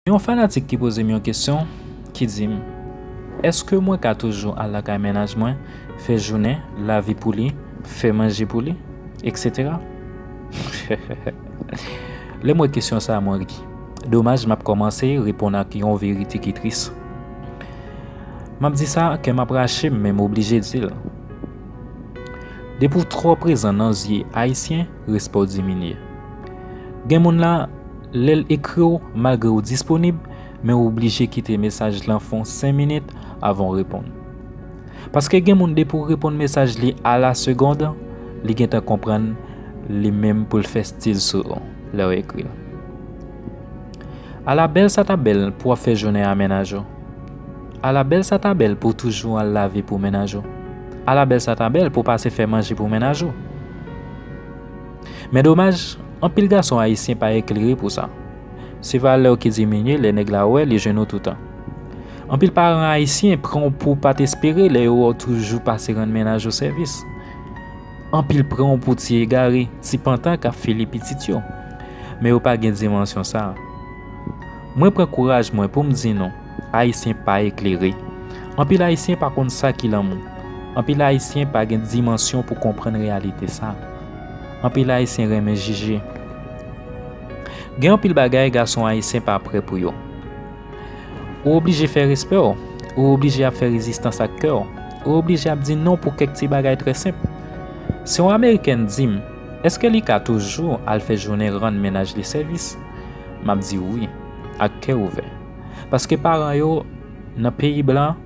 Gen yon fanatik ki poze m yon kesyon ki di m èske mwen ka toujou al lakay mennaj mwen fè jounen, lave pou li, fè manje pou li, etc. Lè m wè kesyon sa mwen ri. Domaj m ap kòmanse reponn ak yon verite ki tris. M ap di sa kè m ap rache m men m oblije di l. Depi w twò prezan nan zye Ayisyen, respè w diminye. Gen moun la, lè l ekri w malgre ou disponib, men ou oblije kite mesaj lan fon 5 minit avan w reponn. Paske gen moun depi w reponn mesaj li a la segond, li gentan konprann li menm pou l fè stil sou ou lè w ekri l. Ala bèl sa ta bèl pou ap fè jounen a mennaj ou Ala bèl sa ta bèl pou w toujou al lave pou mennaj ou Ala bèl sa ta bèl pou w pase fè manje pou mennaj ou Men domaj, anpil gason ayisyen pa eklere pou sa Se valè w ki diminye lè nèg la wè li jwenn ou toutan Anpil paran ayisyen pran w pou w pa t espere lè yo wè w toujou pase rann mennaj ou sèvis. Anpil pran w pou ti egare, ti pantan kap file pitit yo. Men yo pa gen dimansyon sa. Mwen pran kouraj mwen pou m di nou, Ayisyen pa eklere. Anpil Ayisyen pa konn sa ki lanmou. Anpil Ayisyen pa gen dimansyon pou konprann reyalite sa. Anpil Ayisyen renmen jije. Gen anpil bagay gason Ayisyen pa pre pou yo. Ou oblije fè respè w, ou oblije ap fè rezistans ak kè w, ou oblije ap di non pou kèk ti bagay trè senp. Si yon Amerikèn di m, èske li ka toujou al fè jounen rann mennaj li sèvis? M ap di wi, ak kè ouvè. Paske paran yo, nan peyi blan,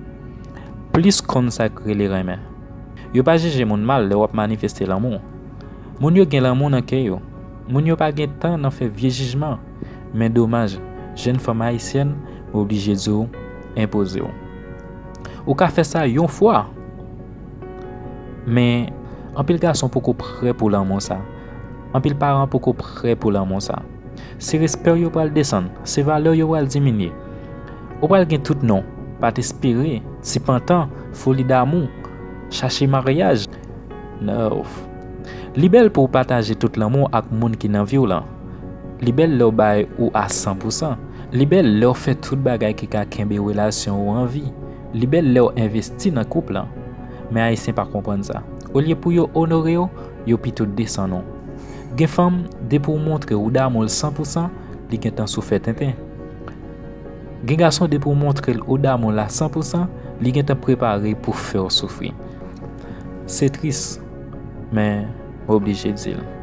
plis konn sa k rele renmen. Yo pa jije moun mal lè w ap manifeste lanmou. Moun yo gen lanmou nan kè yo. Moun yo pa gen tan nan fè vye jijman. Men domaj, jenn fanm ayisyèn, m oblije di w, enpoze w. Ou ka fè sa yon fwa! Men, anpil gason poko prè pou lanmou sa. Anpil paran poko prè pou lanmou sa. Se respè w yo pral desann, se valè w yo pral diminye. Ou pral gen tout non, pa t espere, ti pantan, foli damou, chache maryaj. Noww. Li bèl pou w pataje tout lanmou ak moun ki nan vi w lan. Li bèl lèw bay ou a san pou san. Li bèl lèw fè tout bagay ki ka kenbe relasyon ou an vi. Li bèl lèw envesti nan koup lan. Men ayisyen pa konprann sa. Olye pou yo onorew, yo pito desann ou. Gen fanm, depi ou montre ou damoul san pou san, li gentan sou fè tenten. Gen gason depi ou montrel ou damoul a san pou san, li gentan prepare pou fèw soufri. Se tris. men m oblije di l.